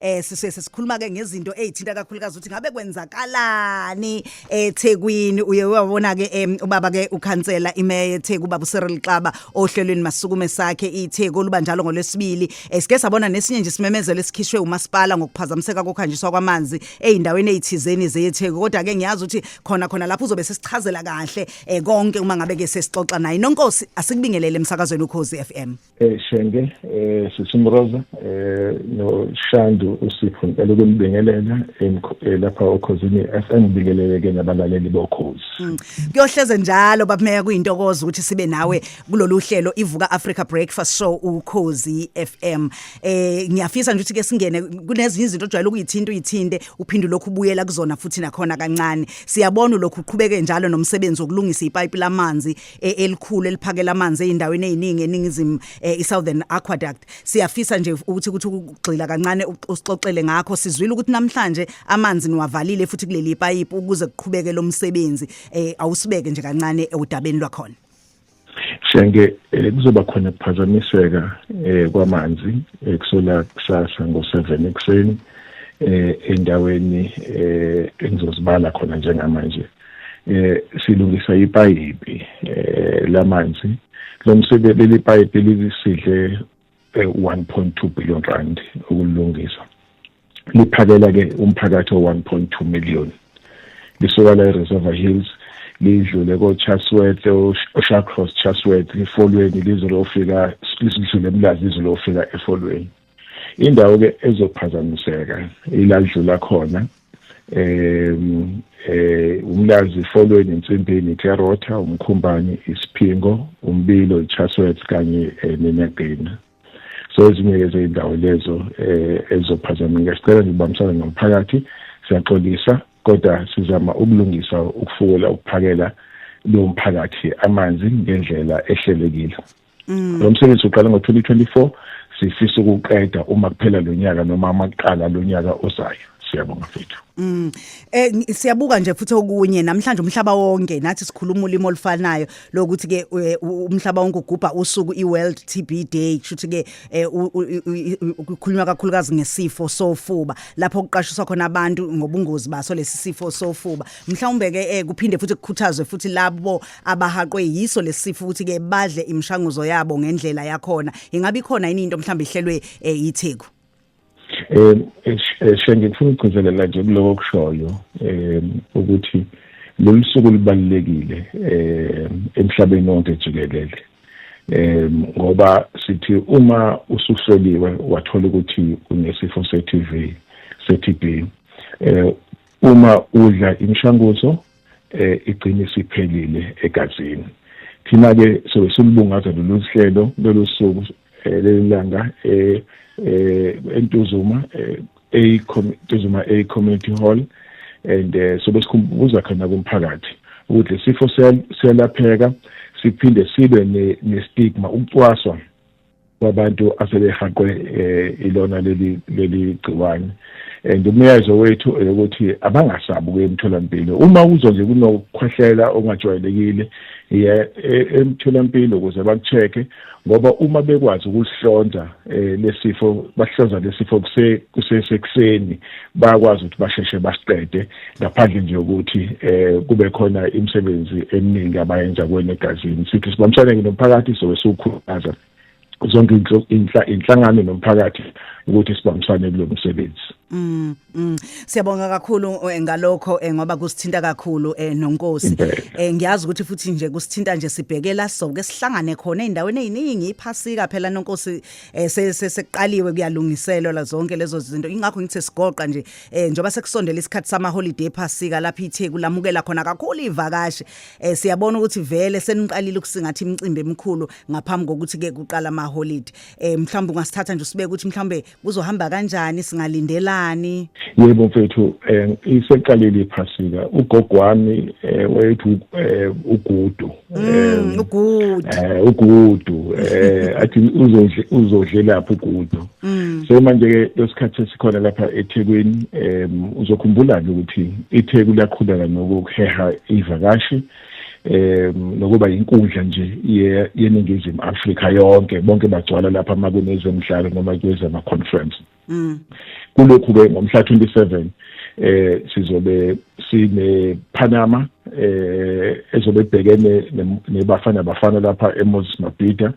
Eh sisuke sesikhuluma ke ngezinto ezithinta kakhulukazi ukuthi ngabe kwenzakalani eThekwini uye wabona ke em, ubaba ke ukhansela imeya eTheku baba uCyril Xaba ohlelweni masukume sakhe iTheku luba njalo ngolwesibili esike sabona nesinye nje simemezelo esikhishwe umasipala ngokuphazamiseka kokhanjiswa kwamanzi ezindaweni ezithizeni zeTheku kodwa ke ngiyazi ukuthi khona khona lapho uzobe sesichazela kahle eh, konke uma ngabe ke sesixoxa naye nonkosi asikubingelele emsakazweni ukhozi FM eh Shenge eh Sisimroza eh no Shandu usipho ngicela ukunibingelela eh, lapha okhozini FM bikeleleke nabalaleli bokhozi mm. kuyohleze njalo babumeya kuyintokozo ukuthi sibe nawe kulolu hlelo ivuka Africa Breakfast Show ukhozi FM eh ngiyafisa nje ukuthi ke singene kunezinye izinto ojwayele ukuyithinta uyithinte uphinde lokhu ubuyela kuzona futhi nakhona kancane siyabona lokhu uqhubeke njalo nomsebenzi wokulungisa ipipe lamanzi e- elikhulu eliphakela amanzi ezindaweni eziningi eningizimu eh, iSouthern Aqueduct siyafisa nje ukuthi ukuthi ukugxila kancane u- usixoxele ngakho sizwile ukuthi namhlanje amanzi niwavalile futhi kuleli pipe ukuze kuqhubeke lo msebenzi eh, awusibeke nje kancane udabeni lwakhona Shenge eh, kuzoba khona ukuphazamiseka eh, kwamanzi eh, kusela kusasa ngo-7 ekuseni eh, endaweni eh, engizozibala khona njengamanje eh silungisa ipayipi eh lamanzi lo msebenzi leli payipi lisidle 1.2 eh, billion rand ukulungisa liphakela ke umphakathi o1.2 million lisuka la eReservoir Hills lidlule koChasworth oShacross Chasworth ifolweni lizolofika lisidlule emlazi lizolofika efolweni indawo-ke ezophazamiseka iladlula khona um eh umlazi ifolweni insimbini ikerotha umkhumbani isiphingo umbilo ichaswet kanye eh, nenagina so ezinye lezindawo lezo eh ezophazameka sicela nibambisane nomphakathi siyaxolisa kodwa sizama ukulungisa ukufukela ukuphakela lo mphakathi amanzi ngendlela ehlelekile mm. lo msebenzi uqale ngo-2024 sifisa ukuqeda uma kuphela lo nyaka noma amaqala lo nyaka ozayo siyabonga mfethu mm eh siyabuka nje futhi okunye namhlanje umhlaba wonke nathi sikhuluma ulimi olufanayo lokuthi ke eh, umhlaba wonke ugubha usuku iWorld TB Day kushuthi ke eh, ukukhulunywa kakhulukazi ngesifo sofuba lapho kuqashiswa khona abantu ngobungozi baso lesifo sofuba mhlawumbe ke eh, kuphinde futhi kukhuthazwe futhi labo abahaqwe yiso lesifo ukuthi ke badle imishanguzo yabo ngendlela yakhona ingabe ikhona yini into mhlawumbe ihlelwe eh, yitheku eh, eh, eh shenge ngifuna ukugcizelela nje kuloko kushoyo eh ukuthi lolu suku libalulekile eh emhlabeni wonke jikelele eh ngoba sithi uma usuhloliwe wathola ukuthi unesifo se-TB se-TB eh uma udla imishanguzo eh iqiniso iphelile egazini thina ke sobe silibungaza lolu hlelo lolu suku eh, lelanga eh, eh entuzuma eh, a Tuzuma A Community Hall and uh, sobe sikhumbuza khona kumphakathi ukuthi lesifo siyalapheka siphinde sibe ne stigma ukucwaswa kwabantu asebehaqwe eh, ilona leli leli gciwane and umyalezo wethu ukuthi abangasabi ukuya emtholampilo uma uzwa nje kunokukhwehlela ongajwayelekile iya e, emtholampilo ukuze bakucheke ngoba uma bekwazi ukuhlonza eh, lesifo bahlonza lesifo kusesekuseni bayakwazi ukuthi basheshe basiqede ngaphandle nje ukuthi eh kube khona imisebenzi eminingi abayenza kwena egazini sithi sibambisane nomphakathi so siwukhuthaza zonke inhlangano nomphakathi ukuthi sibambisane kulo msebenzi Mm, mm. Siyabonga kakhulu eh, ngalokho eh, ngoba kusithinta kakhulu eh, nonkosi. Eh, ngiyazi ukuthi futhi nje kusithinta nje sibhekela so ke sihlangane khona endaweni eziningi iphasika phela nonkosi eh, seseqaliwe kuyalungiselwa la zonke lezo zinto. Ingakho ngithe sigoqa nje eh njoba sekusondela isikhathi sama holiday phasika lapha iTheku lamukela khona kakhulu ivakashi eh siyabona ukuthi vele seniqalile ukusingatha imicimbi emikhulu ngaphambi kokuthi ke kuqala ama holiday eh mhlawumbe ungasithatha nje usibeke ukuthi mhlawumbe kuzohamba kanjani singalindelani yebo mfethu eh iseqalile iphasika ugogo wami eh wethu eh, ugudu Mm, ugudu eh ugudu eh athi uzodle uzodlelapha ugudu mm. so manje ke lesikhathi esikhona lapha eThekwini em uzokhumbula ke ukuthi iTheku liyakhuleka nokuheha ivakashi em nokuba inkundla nje yeningizimu Afrika yonke bonke bagcwala lapha makunezemidlalo noma kwezama conference Mm. Kulokhu ke ngomhla 27 eh sizobe sine Panama eh ezobe bhekene nebafana bafana lapha eMoses Mabhida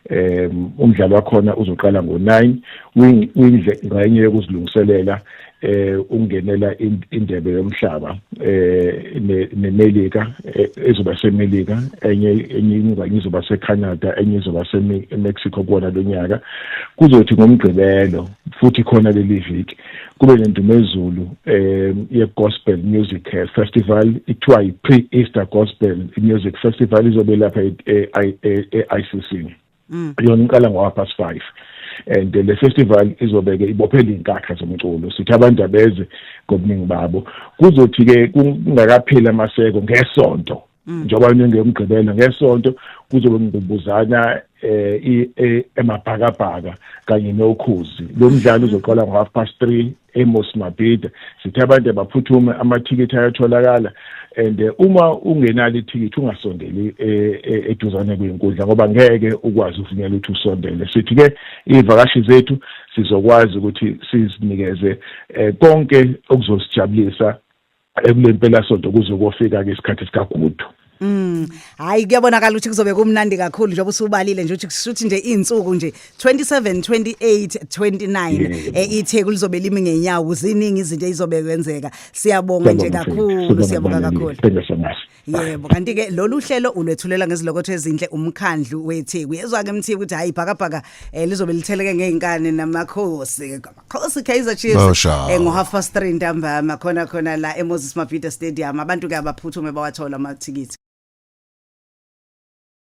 eh umdlalo wakhona uzoqala ngo9 windle ngayinye yokuzilungiselela eh ungenela indebe yomhlaba eh neMelika eh, ezoba seMelika enye enye izoba seCanada enye izoba seMexico kuona lonyaka kuzothi ngomgqibelo futhi khona leli viki kube nendumezulu um ye-gospel music eh, festival ithiwa yi-pre-easter gospel music festival izobe lapha e-i c c mm. yona iqala ngo-half past five and le festival izobeke ibophela iy'nkakha zomculo sithi abantu abeze ngobuningi babo kuzothi-ke kungakapheli amaseko ngesonto mm. njengoba ngengiyomgqibela ngesonto kuzobe ngibuzana eh, eh emabhakabhaka kanye nokhuzi lo mdlalo mm. uzoqala ngo half past 3 eMos Mabhida sithe abantu abaphuthume amathikithi ayatholakala and eh, uma ungenalo ithikithi ungasondeli eh, eduzane kwenkundla ngoba ngeke ukwazi uvunyelwa ukuthi usondele sithi ke ivakashi zethu sizokwazi ukuthi sizinikeze konke okuzosijabulisa ekulempelasonto kuze kofika-ke isikhathi sikagudu Mm. Hayi kuyabonakala ukuthi kuzobe kumnandi kakhulu njengoba usubalile nje ukuthi kushuthi nje izinsuku nje 27 28 29 eh itheku lizobe limi ngenyawo ziningi izinto ezizobe kwenzeka. Siyabonga nje kakhulu siyabonga kakhulu. Yebo kanti ke lolu hlelo ulwethulela ngezilokotho ezinhle umkhandlu weTheku. Yezwa ke mthiya ukuthi hayi bhakabhaka eh, lizobe litheleke ngeinkane namakhosi. Amakhosi Kaizer Chiefs Bawushawa. eh, ngo half past 3 ntambama khona khona la eMoses Mabhida Stadium. Abantu ke abaphuthume bawathola amathikithi.